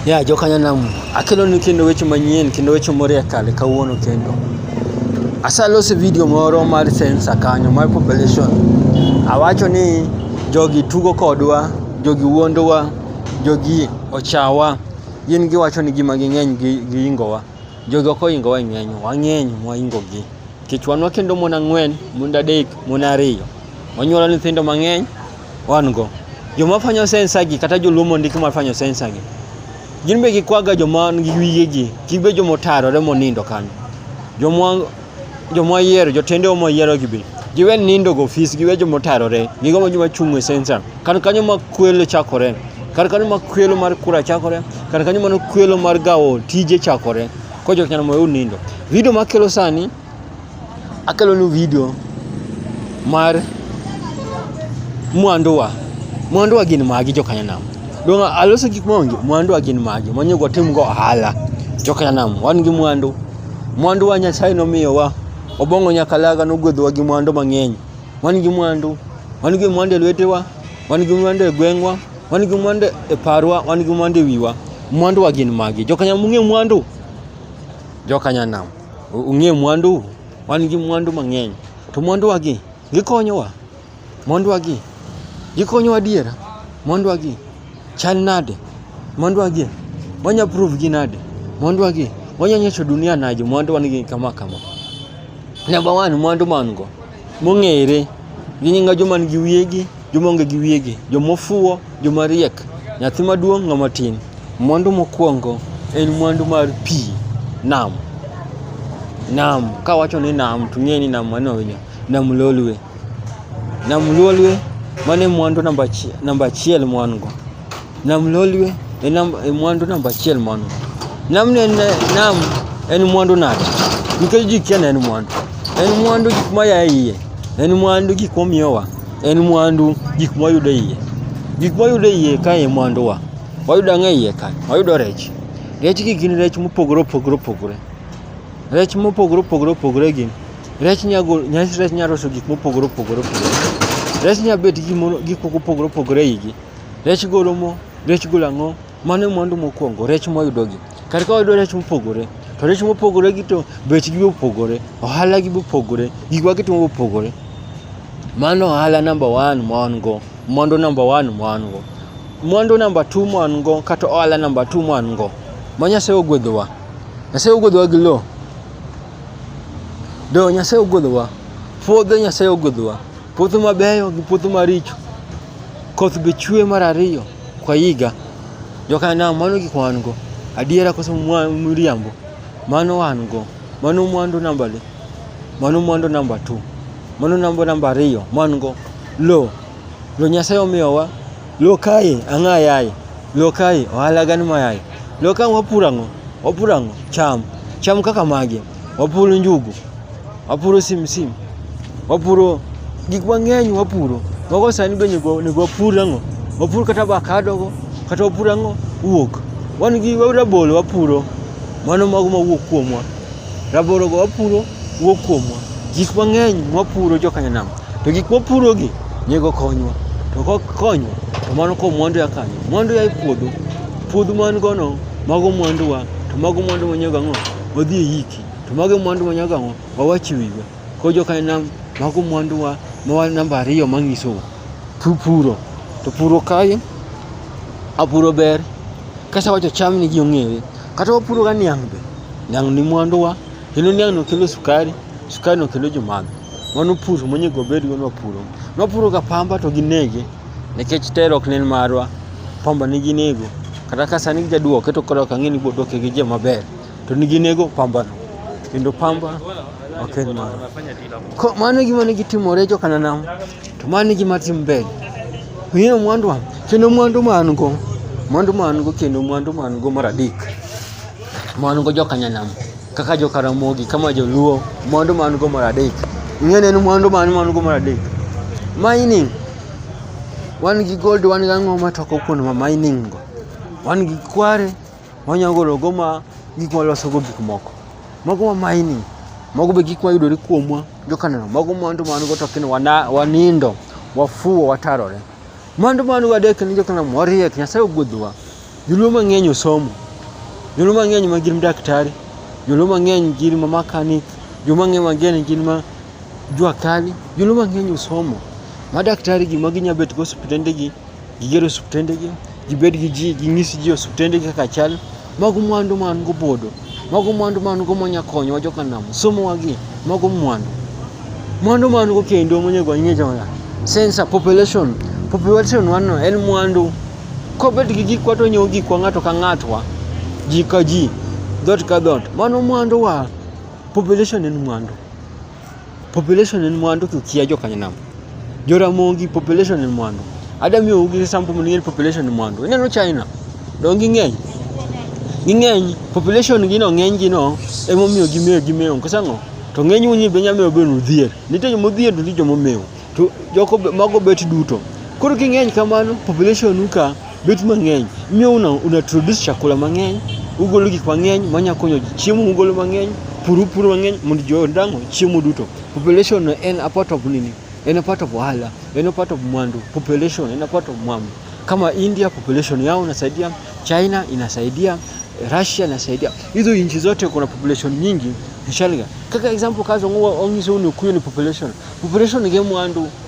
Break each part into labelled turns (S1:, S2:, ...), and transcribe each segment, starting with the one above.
S1: Ya yeah, jokanyanam akelo ni kendo weche manyien kendo weche moro ya kale kawuono kendo asalose video moro mar sensor kanyo mar population awacho ni jogi tugo kodwa jogi wuondowa jogi ochawa gin giwacho ni gima ging'eny giingowa jogi ok oingowa e ng'eny wang'eny mwaingogi nikech wan wakendo mon ang'wen mond adek mon ariyo wanyuolo nyithindo mang'eny Wan go. Joma fanyo sensa gi kata joluo mondiki mar fanyo sensa gi. Gin be gikwaga joma nigi wiye gi, gin be joma otarore monindo kanyo. Joma joma yiero, jotende joma yiero gi be. Giwe nindo go ofis, giwe joma otarore, gigo ma joma chung' e sensa. Kar kanyo ma kwelo chakore. Kar kanyo ma kwelo mar kura chakore, kar kanyo ma kwelo mar gawo tije chakore. Ko joknyano moyud nindo. Video makelo sani akelonu video mar mwanduwa mwanduwa gin magi jokanyanam dong aloso gik maonge mwanduwa gin magi manyego timgo ohala jokanyanam wan gi mwandu mwanduwa nyasaye nomiyowa obong'o nyakalaga nogwedhowa gi mwandu mang'eny wan gi mwandu wan gi mwandu e lwetewa wan gi mwandu e gweng'wa wan gi mwandu e parwa wan gi mwandu e wiwa mwanduwa gin magi jokanyam ung'e mwandu jokanyanam Ung'e mwandu, wan gi mwandu mang'eny. To mwanduwagi, gikonyowa? Mwanduwagi, gikonyowa adiera? Mwanduwagi, chal nade? Mwanduwagi, wanya prove gi nade? Mwanduwagi, wanya nyiso dunia nade mwandu wan gi kama kama? Number one, mwandu ma wan go. mong'ere gi nyinga joma nigi wiyegi, joma onge gi wiyegi, joma ofuwo, joma riek, nyathi maduong', ng'ama tin. Mwandu mokwongo en mwandu mar pi, nam. Nam, kawacho ni nam to ing'eyo ni nam mane onya, nam lolwe. Nam lolwe mano e mwandu namba achiel ma wan go. Nam lolwe e nam e mwandu namba achiel mano. Nam ne en nam en mwandu nade? Nikech ji kia en mwandu. En mwandu gik ma ya iye. En mwandu gik ma miyowa. En mwandu gik ma yudo iye. Gik ma yudo iye ka e mwandu wa. Wayudo ang'e iye ka. Wayudo rech. Rech gi gin rech mopogore opogore opogore. Rech mopogore opogore opogore gi. Rech nyago nyas rech nyaroso gik mopogore opogore opogore. Rech nyabet gik mopogore opogore igi. Rech golo mo, rech golo ang'o, mano e mwandu mokwongo, rech mwayudogi. Kar ka wayudo rech mopogore, to rech mopogore gi to bechgi be opogore, ohala gi be opogore, gik ma gitimo be opogore. Mano ohala namba one ma wan go, mwandu namba one ma wan go. Mwandu namba two ma wan go kata ohala namba two ma wan go, ma Nyasaye ogwedhowa. Nyasaye ogwedhowa gi lo. Lo Nyasaye ogwedhowa, puodho Nyasaye ogwedhowa, puothe mabeyo gi puothe maricho. Koth be chwe mar ariyo kwa higa. Joka nam mano gik wan go. Adiera koso miriambo. Mano wan go. Mano mwandu namba le. Mano mwandu namba tu. Mano nambo namba ariyo. Mwan go. Lo. Lo Nyasaye omiyowa. Lo kae ang'a yaye. Lo kae ohala gani mayaye. Lo kae wapuro ang'o? Wapuro ang'o? Cham. Cham kaka mage. wapuro njugu, wapuro simsim, wapuro gik mang'eny wapuro. Mago sani be onego onego wapur ang'o? Wapur kata avakado go, kata wapur ang'o? Wuok. Wan gi rabolo wapuro, mano mago mawuok kuomwa. Rabolo go wapuro wuok kuomwa. Gik mang'eny mwapuro joka Nyanam. To gik mwapurogi nego konywa. To kok konywa, to mano ko mwandu ya kanyo. Mwandu ya e puodho. Puodho man gono, mago mwanduwa, to mago mwandu manyego ang'o? wadhi e yiki to mago mwandu ma nyaka wawach wiwa ko joka nam mago mwandu wa mawa namba ariyo manyiso puro to puro kae apuro ber kasa wacho cham ni ji ong'ewe kata wapuro ga niang' be niang' ni mwandu wa kendo niang' no kelo sukari sukari no kelo jomadho mano pur monego obed go nwapuro nwapuro ga pamba to ginege nikech tero ok nen marwa pamba ni ginego kata ka sani gijaduoke to koro ok ang'e ni boduoke gi joma ber to nigi nego pambano kendo pamba ok en mano Ko- mano e gima nigi timore jo kananam to mano e gima tim mbele ng'eyo mwandu an kendo mwandu ma an go mwandu ma an go kendo mwandu ma an go mar adek ma an go jo kanyanam kaka jo karamogi kama joluo mwandu ma an go mar adek ing'eni en mwandu ma an ma an go mar adek mining wan gi gold wan gi ang'o ma toko kuno ma mining go wan gi kware Wanyalo golo go ma gik ma loso go gik moko. Mago ma mining. Mago be gik ma yudore kuomwa jokaneno. Mago mwandu ma go to kendo wanindo, wafuwo, watarore. Mwandu ma go adek ni jokaneno wariek, Nyasaye ogwedhowa. Joluo mang'eny osomo. Joluo mang'eny ma gin daktari, joluo mang'eny gin ma makanik, joluo mang'eny gin ma jua kali, joluo mang'eny osomo. Ma daktari gi ma ginya bet go osiptende gi. Giger osuptendegi, gibed gi ji, ginyis ji osuptendegi kaka chal. Mago mwandu ma an go bodo. Mago mwandu ma an go monya konyowa joka nam. Somowa gi, mago mwandu. Mwandu ma an go kendo monego wang'e jona. Sensa, population. Population wanno en mwandu. Kobet gi gikwa to nyiewo gikwa ng'ato ka ng'atwa, ji ka ji, dhoot ka dhoot. Mano mwanduwa. Population en mwandu. population en mwandu kikia jo kanyanam joramogi population en mwandu ada miyo ugi sample mondo ing'e population en mwandu ineno china donge ging'eny ging'eny population gi no ng'eny gi no emomiyo gimewo gimewo nikech ang'o to ng'eny unyi be nyamewo be nudhier nitie joma odhier to nitie joma omewo to jogo mago bet duto koro king'eny kamano population u ka Bet mang'eny miyo una, una produce chakula mang'eny, ugolo gik mang'eny manya konyo ji. Chiemo ugolo mang'eny, pur upuro mang'eny mondo ji odang'o chiemo duto. Population no en a part of nini? En a part of ohala, en a part of mwandu. Population en a part of mwandu. Kama India population yao inasaidia, China inasaidia, Russia inasaidia. Hizo nchi zote kuna population nyingi inshallah. Kaka example kazo ngwa ongiso ni kuyo ni population. Population ni mwandu.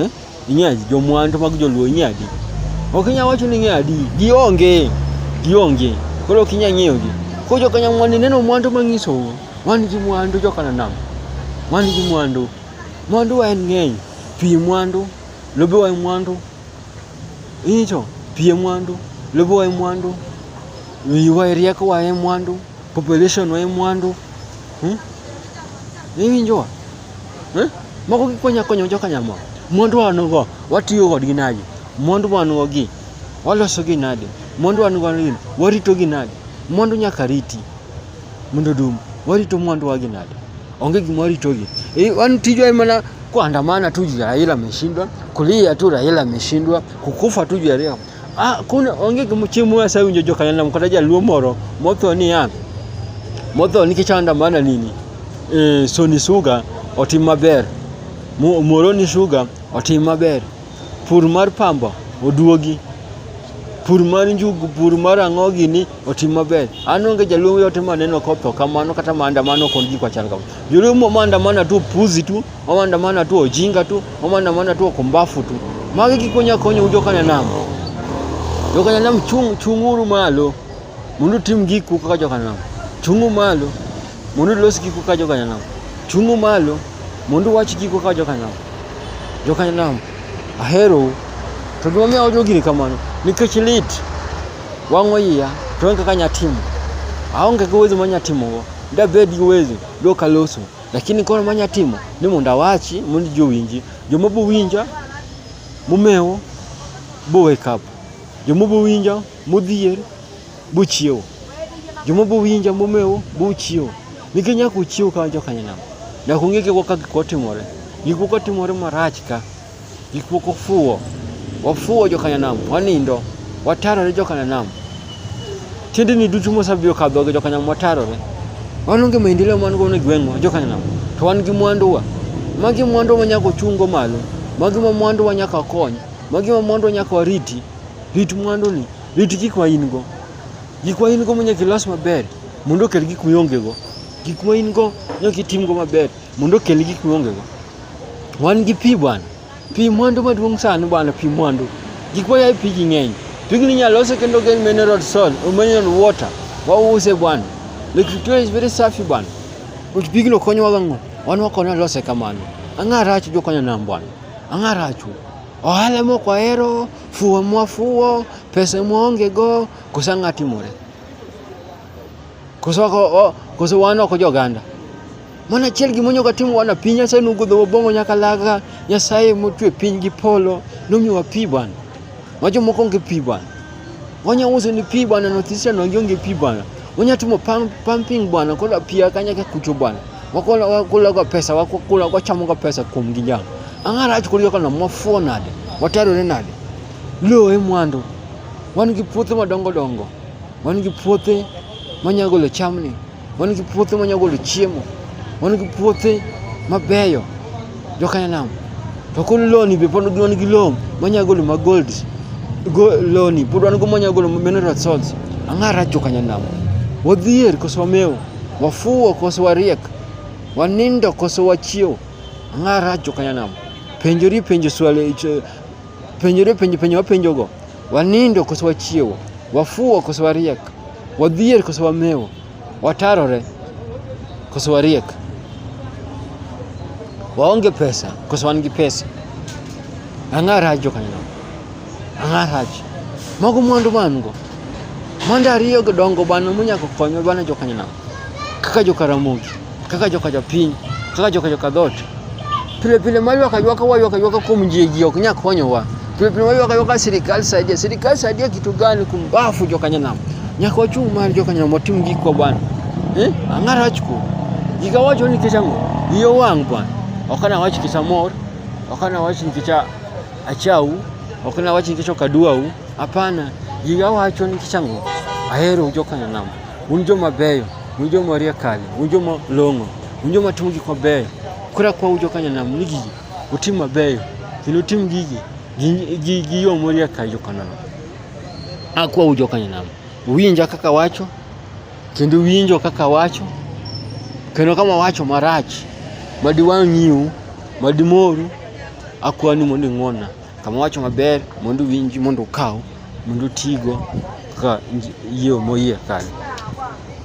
S1: Eh? Ing'eyo adi? Jomwandu mag joluo ing'eyo adi? Ok inyal wacho ni ing'eyo adi. Gionge. Gionge. Koro ok inyal ng'eyogi. Koro joka Nyamwandi neno mwandu mang'isou. Wan gi mwandu joka Nanam. Wan gi mwandu. Mwandu wa en ng'eny. Pi mwandu. Lobe wa mwandu. Ing'echo? Pi mwandu. Lobe wa mwandu. Wiwa rieko wa mwandu. Population wa mwandu. Hmm? Ing'echo? Eh? Moko gikonyo akonya joka nyamwa. Mwandu wanugo watiyo kodgi nadi? Mwandu wanugo gi waloso gi nadi? Mwandu wanugo gi warito gi nadi? Mwandu nyaka riti mondo dum. Warito mwandu wagi nadi? Onge gima warito gi. E, wan tijwa mana kuandamana tu juu ya Raila ameshindwa, kulia tu Raila ameshindwa, kukufa tu juu ya Raila. Ah, kuna onge chieng' moro asewinjo jo kanyalna kata jaluo moro motho niya motho nikech andamana nini e, Sony Sugar otim maber Muhoroni Sugar otim maber pur mar pamba oduogi pur mar njugu pur mar ang'o gini otim maber an onge jaluo yote maneno kotho kamano kata maandamano kod gik machal kamano joluo maandamana tu puzi tu Wamaandamana tu ojinga tu, wamaandamana tu okumbafu tu. Magi kikonya konya ujokana nam. Jokana nam chung chunguru malo. Mundu tim giku kaka jokana nam. Chungu malo. Mundu los giku kaka jokana nam. Chungu malo. Mundu wach giku kaka jokana nam. Jokana nam. Ahero. To gima miyo ojo gini kamano nikech lit wang'o iya to onge kaka nyatimo aonge gi uwezo ma nyatimogo dabed gi uwezo dokaloso Lakini koro manya timo ni mondo awachi mondo ji owinji. Joma bo winja momewo bo wake up. Joma bo winja modhier bo chiewo. Joma bo winja momewo bo chiewo. Nikech nyaka uchiew ka jokanyanam. Nyaka ung'e gikwa ka gikwa timore. Gikwa ka timore marach ka. Gik moko fuwo, wafuwo joka Nyanam, wanindo, watarore joka Nyanam. Tiendeni duto mosabiro kadho gi joka Nyanam watarore. Wan onge maendeleo man go ne gweng'wa joka Nyanam, to wan gi mwanduwa. Magi mwandu ma nyaka ochungo malo, magi ma mwandu wa nyaka kony, magi ma mwandu wa nyaka wariti. Rit mwanduni, rit gik ma in go. Gik ma in go monyaka ilos maber mondo okel gik miongego. Gik ma in go nyaka itimgo maber mondo okel gik miongego. Wan gi pi bwana. Pi mwandu maduong' sani bwana, pi mwandu. Gik moya e pigi ng'eny. Pigni inyalo lose kendo geng mineral soil, mineral water. Wause bwana. Lake Victoria is very safi bwana. But pigno konyowa gang'o? Wan wakone lose kamano. Ang'a rach jokanya nam bwana. Ang'a rachu. Ohala moko ahero, fuwo mwafuwo, pesa mwaonge go, kosa ng'a timore. Koso ko koso wan ok jo ganda. Mana chiel gi monyo katim wana piny ase nu gudho bongo nyaka laga nyasaye motwe piny gi polo numi wa pi bwana. Wajo moko ngi pi bwana. Wanya uso ni pi bwana no tisa no ngi pi bwana. Wanya tumo pam pumping bwana kola pi akanya ka kucho bwana. Wakola wakola kwa pesa wakola kwa chamo kwa pesa kum gi jam. Angara acho kuliyo kana mwafuo nade. Watero ne nade. Lo e mwando. Wan gi puothe madongo dongo. Wan gi puothe manyalo golo chamni, wan gi puothe manyalo golo chiemo, wan gi puothe mabeyo jokanyanam to kod loni be pod wan gi lowo manyalo golo ma gold loni pod wan go manyalo golo mineral salts ang'a rach jokanyanam wadhier koso wamewo wafuwo koso wariek wanindo koso wachiewo ang'a rach jokanyanam penjori penjo swali penjori penjo penjo wapenjogo Wanindo koso wachiewo, wafuwo koso wariek, wadhier koso wamewo, watarore koso wariek, waonge pesa koso wan gi pesa. Ang'a rach jokanyo, ang'a rach mago mwandu man go mwandu ariyo dongo bana monyako konyo bana jokanyo kaka jokaramogi kaka joka japiny kaka joka joka dhot pile pile maywaka ywaka waywaka ywaka kuom ji ji ok nya konyowa pile pile maywaka ywaka sirikal saidia sirikal saidia kitu gani kumbafu joka nyanam nyaka wachung' mar joka nyanam watim gik kwa bwana eh ang'ara wachko giga wacho ni nikech ang'o iye wang' bwana ok ana wach nikech amor ok ana wach nikech achau ok ana wach nikech ok aduau hapana giga wacho nikech ang'o ahero joka nyanam un joma beyo un joma orie kale un joma long'o un joma timo gik mabeyo koro akwa ujo kanyanam ni gigi utim mabeyo kendo utim gigi gi yo morie ka jokanano akwa ujo kanyanam winja kaka wacho kendo winjo kaka wacho kendo kama wacho marach madiwang'iu madimoru akwani mondo ing'wonna Kama owacho maber mondo winji mondo ukaw mondo utigo kaka yie moyie kanyo.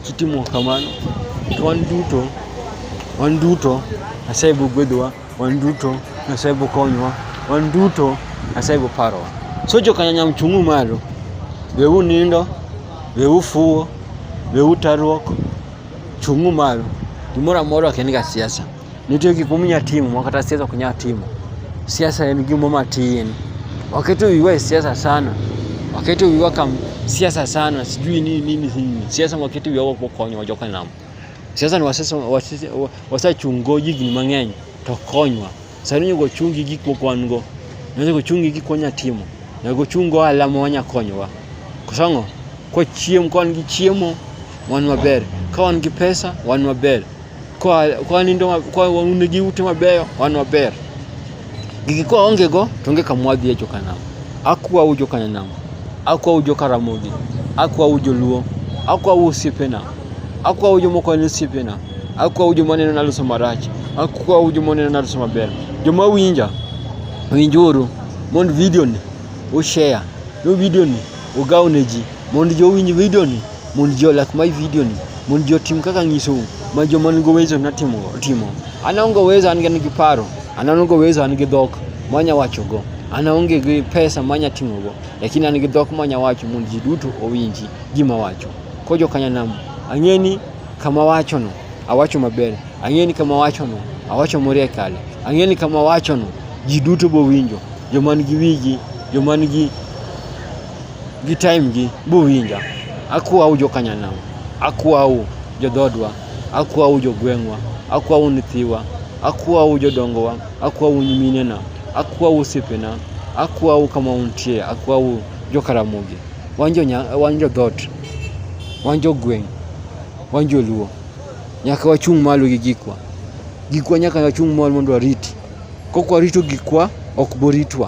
S1: Kitimo kamano to wan duto wan duto Nyasaye biro gwedhowa, wan duto Nyasaye biro konyowa, wan duto Nyasaye biro parowa. So jokanyanyam chung'u malo, we unindo, we ufuwo, we utaruok, chung'u malo. Gimoro amora ok en ga siasa. Nitie gik mominya timo ma kata siasa ok nyal timo. Siasa en gimo matin. Waketo wiwa e siasa sana. Waketo wiwa kam siasa sana, sijui nini nini nini. Siasa waketo wiwa wako konyo joka nam. Siasa ni wasesa wasachungo jigni mang'eny to konywa. Sani nyugo chungi gik moko wan go. Nyugo chungi gik wanya timo. Nyugo chungo alama wanya konyowa. Kusongo kwa chiemo, kwa wan gi chiemo wan maber, ka wan gi pesa wan maber. kwa kwa nindo kwa waune gi ute mabeyo wan waber gigi kwa onge go to onge kamwadhi e jokanam akwa ujo kanyanam akwa ujo karamogi akwa ujo luo akwa usiepena akwa ujo moko ni usiepena akwa ujo maneno naloso marach akwa ujo maneno naloso maber joma winja winjuru mond video ni ushare no video ni ugaw ne ji mondo jowinj video ni Mond ji olak my video ni. Mond ji otim kaka anyisou. Ma joma nigo uwezo natimo timo. An aonge uwezo an gi paro. An aonge uwezo an gi dhok manya wachogo. An aonge gi pesa manya timogo. Lakini an gi dhok manya wacho mond ji duto owinji gima wacho. Ko jokanyanam ang'e ni kama wachono awacho maber. Ang'e ni kama wachono awacho morie kale. Ang'e ni kama wachono ji duto bowinjo. Joma nigi wigi, joma nigi gi time gi buwinja akwau jokanyanam akwau jodhodwa akwau jogweng'wa akwau nyithiwa akwau jodongowa akwau nyiminena akwau osiepena akwau kama untie akwau jokaramogi wan jodhot wan jogweng' wan joluo nyaka wachung' malo gi gikwa gikwa nyaka wachung' malo mondo wariti kok warito gikwa ok boritwa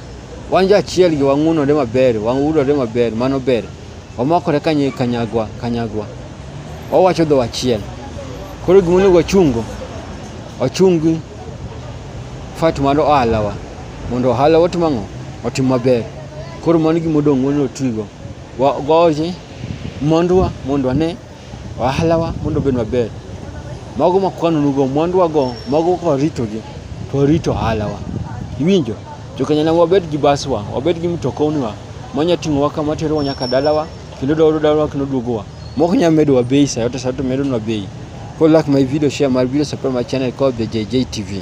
S1: Wan jo achiel gi wang'unore maber, wang'udore maber, mano ber. Wamakore kanye kanyagwa, kanyagwa. Wawacho dho achiel. Koro gima onego wachungo, wachungi fat mar ohalawa. Mondo ohala otim ang'o? Otim maber. Koro mano gima odong' mondo otigo. Wa- Waoje mondwa mondo wane ohalawa mondo obed maber. Mago ma kwanonugo mwanduwago, mago ka waritogi, to warito ohalawa. Iwinjo? Jo Kanyana wabed gi baswa, wabed gi mtokoniwa, manya ting'owa kama terowa nyaka dalawa, kendo dawaro dalawa kendo duogowa. Mok nyalo medowa bei sa yote sa yote medonwa bei. Koro like my video, share my video, subscribe my channel called the JJ TV.